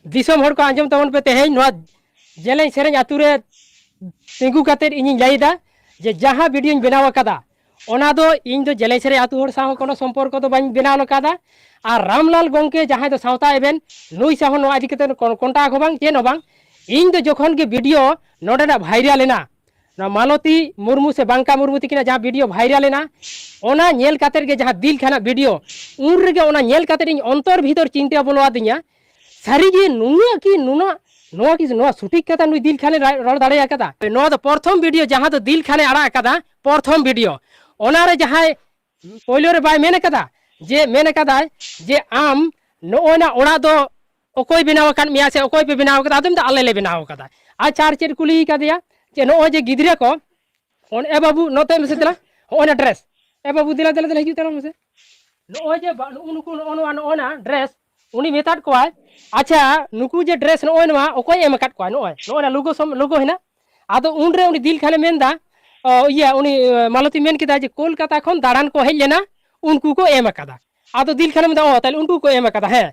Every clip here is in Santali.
ᱫᱤᱥᱚᱢ ᱦᱚᱲ ᱠᱚ ᱟᱸᱡᱚᱢ ᱛᱟᱵᱚᱱ ᱯᱮ ᱛᱮᱦᱮᱧ ᱱᱚᱣᱟ ᱡᱮᱞᱮᱧ ᱥᱮᱨᱮᱧ ᱟᱛᱳ ᱨᱮ ᱛᱤᱸᱜᱩ ᱠᱟᱛᱮ ᱤᱧᱤᱧ ᱞᱟᱹᱭᱫᱟ ᱡᱮ ᱡᱟᱦᱟᱸ ᱵᱷᱤᱰᱤᱭᱳᱧ ᱵᱮᱱᱟᱣ ᱟᱠᱟᱫᱟ ᱚᱱᱟ ᱫᱚ ᱤᱧ ᱫᱚ ᱡᱮᱞᱮᱧ ᱥᱮᱨᱮᱧ ᱟᱛᱳ ᱦᱚᱲ ᱥᱟᱶ ᱠᱳᱱᱳ ᱥᱚᱢᱯᱚᱨᱠᱚ ᱫᱚ ᱵᱟᱹᱧ ᱵᱮᱱᱟᱣ ᱟᱠᱟᱫᱟ ᱟᱨ ᱨᱟᱢᱞᱟᱞ ᱜᱚᱝᱠᱮ ᱡᱟᱦᱟᱸᱭ ᱫᱚ ᱥᱟᱶᱛᱟ ᱮᱵᱷᱮᱱ ᱱᱩᱭ ᱥᱟᱶ ᱱᱚᱣᱟ ᱤᱫᱤ ᱠᱟᱛᱮ ᱠᱚᱱᱴᱟᱠ ᱦᱚᱸ ᱵᱟᱝ ᱪᱮᱫ ᱦᱚᱸ ᱵᱟᱝ ᱤᱧ ᱫᱚ ᱡᱚᱠᱷᱚᱱ ᱜᱮ ᱵᱷᱤᱰᱤᱭᱳ ᱱᱚᱰᱮᱱᱟᱜ ᱵᱷᱟᱭᱨᱟᱞ ᱮᱱᱟ ᱱᱚᱣᱟ ᱢᱟᱞᱚᱛᱤ ᱢᱩᱨᱢᱩ ᱥᱮ ᱵᱟᱝᱠᱟ ᱢᱩᱨᱢᱩ ᱛᱤᱠᱤᱱᱟᱜ ᱡᱟᱦᱟᱸ ᱵᱷᱤᱰᱤᱭᱳ ᱵᱷᱟᱭᱨᱟᱞ ᱮᱱᱟ ᱚᱱᱟ ᱧᱮᱞ ᱠᱟᱛᱮᱫ ᱜᱮ ᱡᱟᱦᱟᱸ ᱫᱤᱞ ᱠᱷᱟᱱᱟᱜ ᱵᱷᱤᱰᱤᱭᱳ ᱩᱱ ᱨᱮᱜᱮ ᱚᱱᱟ ᱧᱮᱞ ᱠᱟᱛᱮᱫ ᱤᱧ ᱚᱱᱛᱚᱨ ᱵᱷᱤᱛᱚᱨ ᱪᱤᱱᱛᱟᱹ ᱵᱚᱞᱚ ᱟᱹᱫᱤᱧᱟ ᱥᱟᱹᱨᱤᱜᱮ ᱱᱩᱱᱟᱹᱜ ᱠᱤ ᱱᱩᱱᱟᱹᱜ ᱱᱚᱣᱟ ᱠᱤ ᱱᱚᱣᱟ ᱥᱚᱴᱷᱤᱠ ᱠᱟᱛᱷᱟ ᱱᱩᱭ ᱫᱤᱞ ᱠᱷᱟᱱᱮ ᱨᱚᱲ ᱫᱟᱲᱮ ᱟᱠᱟᱫᱟ ᱱᱚᱣᱟ ᱫᱚ ᱯᱨᱚᱛᱷᱚᱢ ᱵᱷᱤᱰᱤᱭᱳ ᱡᱟᱦᱟᱸ ᱫᱚ ᱫᱤᱞ ᱠᱷᱟᱱᱮ ᱟᱲᱟᱜ ᱟᱠᱟᱫᱟ ᱯᱨᱚᱛᱷᱚᱢ ᱵᱷᱤᱰᱤᱭᱳ ᱚᱱᱟᱨᱮ ᱡᱟᱦᱟᱸᱭ ᱯᱳᱭᱞᱳ ᱨᱮ ᱵᱟᱭ ᱢᱮᱱ ᱟᱠᱟᱫᱟ ᱡᱮ ᱢᱮᱱ ᱟᱠᱟᱫᱟᱭ ᱡᱮ ᱟᱢ ᱱᱚᱜᱼᱚᱭᱱᱟ ᱚᱲᱟᱜ ᱫᱚ ᱚᱠᱚᱭ ᱵᱮᱱᱟᱣ ᱟᱠᱟᱫ ᱢᱮᱭᱟ ᱥᱮ ᱚᱠᱚᱭ ᱯᱮ ᱵᱮᱱᱟᱣ ᱟᱠᱟᱫᱟ ᱟᱫᱚ ᱢᱮᱱᱫᱟ ᱟᱞᱮ ᱞᱮ ᱵᱮᱱᱟᱣ ᱟᱠᱟᱫᱟ ᱟᱪᱪᱷᱟ ᱟᱨ ᱪᱮᱫ ᱠᱩᱞᱤ ᱠᱟᱫᱮᱭᱟ ᱡᱮ ᱱᱚᱜᱼᱚᱭ ᱡᱮ ᱜᱤᱫᱽᱨᱟᱹ ᱠᱚ ᱚᱱ ᱮ ᱵᱟᱹᱵᱩ ᱱᱚᱛᱮ ᱢᱮᱥᱮ ᱫᱮᱞᱟ ᱦᱚᱸᱜᱼᱚᱭᱱᱟ ᱰᱨᱮᱥ ᱮ ᱵᱟᱹᱵᱩ ᱫᱮᱞᱟ ᱫᱮᱞᱟ ᱫᱮᱞᱟ ᱦᱤᱡᱩᱜ ᱛᱟᱞᱟᱝ ᱢᱮᱥᱮ ᱱᱚᱜᱼᱚᱭ ᱡᱮ ᱱᱩᱜᱼᱩ ᱱᱩᱠᱩ ᱱᱚᱜᱼᱚ ᱱᱚᱣᱟ ᱱᱚᱜᱼᱚᱭᱱᱟ ᱰᱨᱮᱥ ᱩᱱᱤ ᱢᱮᱛᱟᱫ ᱠᱚᱣᱟᱭ ᱟᱪᱪᱷᱟ ᱱᱩᱠᱩ ᱡᱮ ᱰᱨᱮᱥ ᱱᱚᱜᱼᱚᱭ ᱱᱚᱣᱟ ᱚᱠᱚᱭ ᱮᱢ ᱟᱠᱟᱫ ᱠᱚᱣᱟ ᱱᱚᱜᱼᱚᱭ ᱱᱚᱜᱼᱚᱭ ᱱᱟ ᱞᱳᱜᱳ ᱥᱚᱢ ᱞᱳᱜᱳ ᱦᱮᱱᱟᱜ ᱟᱫᱚ ᱩᱱᱨᱮ ᱩᱱᱤ ᱫᱤᱞ ᱠᱷᱟᱱᱮ ᱢᱮᱱᱫᱟ ᱚ, ᱤᱭᱟᱹ ᱩᱱᱤ ᱚ, ᱢᱟᱞᱚᱛᱤ ᱢᱮᱱ ᱠᱮᱫᱟ ᱡᱮ ᱠᱳᱞᱠᱟᱛᱟ ᱠᱷᱚᱱ ᱫᱟᱬᱟᱱ ᱠᱚ ᱦᱮᱡ ᱞᱮᱱᱟ ᱩᱱᱠᱩ ᱠᱚ ᱮᱢ ᱟᱠᱟᱫᱟ ᱟᱫᱚ ᱫᱤᱞ ᱠᱷᱟᱱᱮ ᱢᱮᱱᱫᱟ ᱚ ᱛᱟᱦᱞᱮ ᱩᱱᱠᱩ ᱠᱚ ᱮᱢ ᱟᱠᱟᱫᱟ ᱦᱮᱸ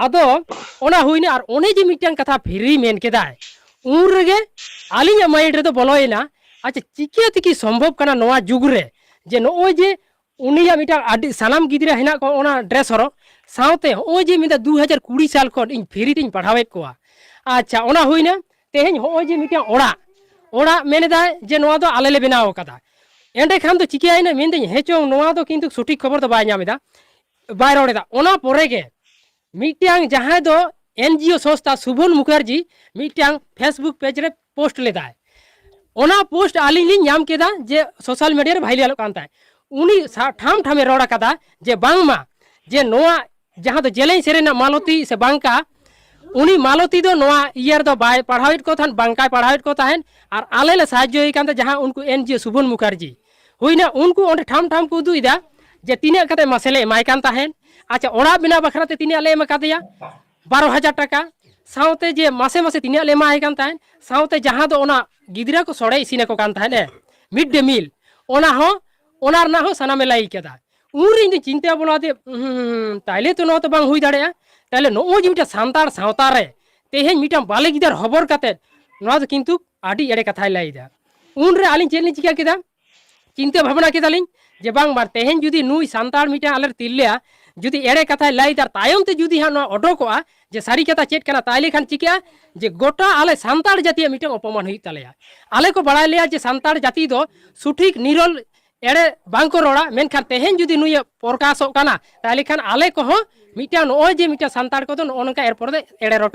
ᱟᱫᱚ ᱚᱱᱟ ᱦᱩᱭᱱᱟ ᱟᱨ ᱚᱱᱮ ᱡᱮ ᱢᱤᱫᱴᱟᱝ ᱠᱟᱛᱷᱟ ᱯᱷᱤᱨᱤ ᱢᱮᱱ ᱠᱮᱫᱟᱭ ᱩᱱ ᱨᱮᱜᱮ ᱟᱹᱞᱤᱧᱟᱜ ᱢᱟᱭᱤᱱᱰ ᱨᱮᱫᱚ ᱵᱚᱞᱚᱭᱮᱱᱟ ᱟᱪᱪᱷᱟ ᱪᱤᱠᱟᱹ ᱛᱮᱠᱤ ᱥᱚᱢᱵᱷᱚᱵ ᱠᱟᱱᱟ ᱱᱚᱣᱟ ᱡᱩᱜᱽ ᱨᱮ ᱡᱮ ᱱᱚᱜᱼᱚᱭ ᱡᱮ ᱩᱱᱤᱭᱟᱜ ᱢᱤᱫᱴᱟᱝ ᱟᱹᱰᱤ ᱥᱟᱱᱟᱢ ᱜᱤᱫᱽᱨᱟᱹ ᱦᱮᱱᱟᱜ ᱠᱚᱣᱟ ᱚᱱᱟ ᱰᱨᱮᱥ ᱦᱚᱨᱚᱜ ᱥᱟᱶᱛᱮ ᱦᱚᱸᱜᱼᱚᱭ ᱡᱮ ᱢᱤᱫ ᱫᱩ ᱦᱟᱡᱟᱨ ᱠᱩᱲᱤ ᱥᱟᱞ ᱠᱷᱚᱱ ᱤᱧ ᱯᱷᱨᱤ ᱛᱤᱧ ᱯᱟᱲᱦᱟᱣᱮᱫ ᱠᱚᱣᱟ ᱟᱪᱪᱷᱟ ᱚᱱᱟ ᱦᱩᱭᱱᱟ ᱛᱮᱦᱮᱧ ᱦᱚᱸᱜᱼᱚᱭ ᱡᱮ ᱢᱤᱫᱴᱟᱝ ᱚᱲᱟᱜ ᱚᱲᱟᱜ ᱢᱮᱱᱮᱫᱟᱭ ᱡᱮ ᱱᱚᱣᱟ ᱫᱚ ᱟᱞᱮ ᱞᱮ ᱵᱮᱱᱟᱣ ᱟᱠᱟᱫᱟ ᱮᱸᱰᱮᱠᱷᱟᱱ ᱫᱚ ᱪᱤᱠᱟᱹᱭᱮᱱᱟ ᱢᱮᱱᱫᱟᱹᱧ ᱦᱮᱸ ᱪᱚᱝ ᱱᱚᱣᱟ ᱫᱚ ᱠᱤᱱᱛᱩ ᱥᱚᱴᱷᱤᱠ ᱠᱷᱚᱵᱚᱨ ᱫᱚ ᱵᱟᱭ ᱧᱟᱢ ᱮᱫᱟ ᱵᱟᱭ ᱨᱚᱲ ᱮᱫᱟ ᱚᱱᱟ ᱯᱚᱨᱮ ᱜᱮ ᱢᱤᱫᱴᱟᱝ ᱡᱟᱦᱟᱸᱭ ᱫᱚ ᱮᱱᱡᱤᱳ ᱥᱚᱝᱥᱛᱷᱟ ᱥᱩᱵᱷᱚᱱ ᱢᱩᱠᱷᱟᱨᱡᱤ ᱢᱤᱫᱴᱟᱝ ᱯᱷᱮᱥᱵᱩᱠ ᱯᱮᱡᱽ ᱨᱮ ᱯᱳᱥᱴ ᱞᱮᱫᱟᱭ ᱚᱱᱟ ᱯᱳᱥᱴ ᱟᱹᱞᱤᱧ ᱞᱤᱧ ᱧᱟᱢ ᱠᱮᱫᱟ ᱡᱮ ᱥᱳᱥᱟᱞ ᱢᱤᱰᱤᱭᱟ ᱨᱮ ᱵᱷᱟᱭᱨᱟᱞᱚᱜ ᱠᱟᱱ ᱛᱟᱦᱮᱸᱫ ᱩᱱᱤ ᱴᱷᱟᱢ ᱴᱷᱟᱢᱮ ᱨᱚᱲ ᱟᱠᱟᱫᱟ ᱡᱮ ᱵᱟᱝᱢᱟ ᱡᱮ ᱱᱚᱣᱟ ᱡᱟᱦᱟᱸ ᱫᱚ ᱡᱮᱞᱮᱧ ᱥᱮᱨᱮᱧ ᱨᱮᱱᱟᱜ ᱢᱟᱞᱚᱛᱤ ᱥᱮ ᱵᱟᱝᱠᱟ ᱩᱱᱤ ᱢᱟᱞᱚᱛᱤ ᱫᱚ ᱱᱚᱣᱟ ᱤᱭᱟᱹ ᱨᱮᱫᱚ ᱵᱟᱭ ᱯᱟᱲᱦᱟᱣᱮᱫ ᱠᱚ ᱛᱟᱦᱮᱸᱫ ᱵᱟᱝᱠᱟᱭ ᱯᱟᱲᱦᱟᱣᱮᱫ ᱠᱚ ᱛᱟᱦᱮᱸᱫ ᱟᱨ ᱟᱞᱮ ᱞᱮ ᱥᱟᱦᱟᱡᱽᱡᱚᱭᱮ ᱠᱟᱱ ᱛᱟᱦᱮᱸᱫ ᱡᱟᱦᱟᱸ ᱩᱱᱠᱩ ᱮᱱ ᱡᱤ ᱥᱩᱵᱚᱱ ᱢᱩᱠᱷᱟᱨᱡᱤ ᱦᱩᱭᱱᱟ ᱩᱱᱠᱩ ᱚᱸᱰᱮ ᱴᱷᱟᱢ ᱴᱷᱟᱢ ᱠᱚ ᱩᱫᱩᱜᱮᱫᱟ ᱡᱮ ᱛᱤᱱᱟᱹᱜ ᱠᱟᱛᱮ ᱢᱟᱥᱮ ᱞᱮ ᱮᱢᱟᱭ ᱠᱟᱱ ᱛᱟᱦᱮᱸᱫ ᱟᱪᱪᱷᱟ ᱚᱲᱟᱜ ᱵᱮᱱᱟᱣ ᱵᱟᱠᱷᱨᱟ ᱛᱮ ᱛᱤᱱᱟᱹᱜ ᱞᱮ ᱮᱢ ᱟᱠᱟᱫᱮᱭᱟ ᱵᱟᱨᱚ ᱦᱟᱡᱟᱨ ᱴᱟᱠᱟ ᱥᱟᱶᱛᱮ ᱡᱮ ᱢᱟᱥᱮ ᱢᱟᱥᱮ ᱛᱤᱱᱟᱹᱜ ᱞᱮ ᱮᱢᱟᱭ ᱠᱟᱱ ᱛᱟᱦᱮᱸᱫ ᱥᱟᱶᱛᱮ ᱡᱟᱦᱟᱸ ᱫᱚ ᱚᱱᱟ ᱜᱤᱫᱽᱨᱟᱹ ᱠᱚ ᱥᱚᱲᱮ ᱤᱥᱤᱱ ᱟᱠᱚ ᱠᱟᱱ ᱛᱟᱦᱮᱸᱫ ᱮ ᱢᱤᱰ ᱰᱮ ᱢᱤᱞ ᱚᱱᱟ ᱦᱚᱸ ᱚᱱᱟ ᱨᱮᱱᱟᱜ ᱦᱚᱸ ᱥᱟᱱᱟᱢᱮ ᱞᱟᱹᱭ ᱠᱮᱫᱟ ᱩᱱ ᱨᱮ ᱤᱧ ᱫᱚ ᱪᱤᱱᱛᱟᱹ ᱵᱚᱞᱚ ᱟᱫᱮ ᱛᱟᱦᱞᱮ ᱛᱚ ᱱᱚᱣᱟ ᱛᱚ ᱵᱟᱝ ᱦᱩᱭ ᱫᱟᱲᱮᱭᱟᱜᱼᱟ ᱛᱟᱦᱞᱮ ᱱᱚᱜᱼᱚᱭ ᱡᱮ ᱢᱤᱫᱴᱟᱝ ᱥᱟᱱᱛᱟᱲ ᱥᱟᱶᱛᱟ ᱨᱮ ᱛᱮᱦᱮᱧ ᱢᱤᱫᱴᱟᱝ ᱵᱟᱞᱮ ᱜᱤᱫᱟᱹᱨ ᱦᱚᱵᱚᱨ ᱠᱟᱛᱮ ᱱᱚᱣᱟ ᱫᱚ ᱠᱤᱱᱛᱩ ᱟᱹᱰᱤ ᱮᱲᱮ ᱠᱟᱛᱷᱟᱭ ᱞᱟᱹᱭ ᱮᱫᱟ ᱩᱱ ᱨᱮ ᱟᱹᱞᱤᱧ ᱪᱮᱫ ᱞᱤᱧ ᱪᱤᱠᱟᱹ ᱠᱮᱫᱟ ᱪᱤᱱᱛᱟᱹ ᱵᱷᱟᱵᱽᱱᱟ ᱠᱮᱫᱟᱞᱤᱧ ᱡᱮ ᱵᱟᱝ ᱵᱟᱝ ᱛᱮᱦᱮᱧ ᱡᱩᱫᱤ ᱱᱩᱭ ᱥᱟᱱᱛᱟᱲ ᱢᱤᱫᱴᱟᱝ ᱟᱞᱮ ᱛᱤᱨᱞᱟᱹ ᱡᱩᱫᱤ ᱮᱲᱮ ᱠᱟᱛᱷᱟᱭ ᱞᱟᱹᱭᱫᱟ ᱛᱟᱭᱚᱢ ᱛᱮ ᱡᱩᱫᱤ ᱦᱟᱸᱜ ᱱᱚᱣᱟ ᱚᱰᱚᱠᱚᱜᱼᱟ ᱡᱮ ᱥᱟᱹᱨᱤ ᱠᱟᱛᱷᱟ ᱪᱮᱫ ᱠᱟᱱᱟ ᱛᱟᱦᱞᱮ ᱠᱷᱟᱱ ᱪᱤᱠᱟᱹᱜᱼᱟ ᱡᱮ ᱜᱚᱴᱟ ᱟᱞᱮ ᱥᱟᱱᱛᱟᱲ ᱡᱟᱹᱛᱤᱭᱟᱜ ᱢᱤᱫᱴᱟᱝ ᱚᱯᱚᱢᱟᱱ ᱦᱩᱭᱩᱜ ᱛᱟᱞᱮᱭᱟ ᱟᱞᱮ ᱠᱚ ᱵᱟᱲᱟᱭ ᱞᱮᱭᱟ ᱡᱮ ᱥᱟᱱᱛᱟᱲ ᱡᱟᱹᱛᱤ ᱫᱚ ᱥᱩᱴᱷᱤᱠ ᱱᱤᱨᱚᱞ ᱮᱲᱮ ᱵᱟᱝ ᱠᱚ ᱨᱚᱲᱟ ᱢᱮᱱᱠᱷᱟᱱ ᱛᱮᱦᱮᱧ ᱡᱩᱫᱤ ᱱᱩᱭ ᱯᱨᱚᱠᱟᱥᱚᱜ ᱠᱟᱱᱟ ᱛᱟᱦᱞᱮ ᱠᱷᱟᱱ ᱟᱞᱮ ᱠᱚᱦᱚᱸ ᱢᱤᱫᱴᱟᱝ ᱱᱚᱜᱼᱚᱭ ᱡᱮ ᱢᱤᱫᱴᱟᱝ ᱥᱟᱱᱛᱟᱲ ᱠᱚᱫᱚ ᱱᱚᱜᱼᱚ ᱱᱚᱝᱠᱟ ᱮᱨᱯᱚᱨ ᱫᱚ ᱮᱲᱮ ᱨᱚᱴᱚᱡ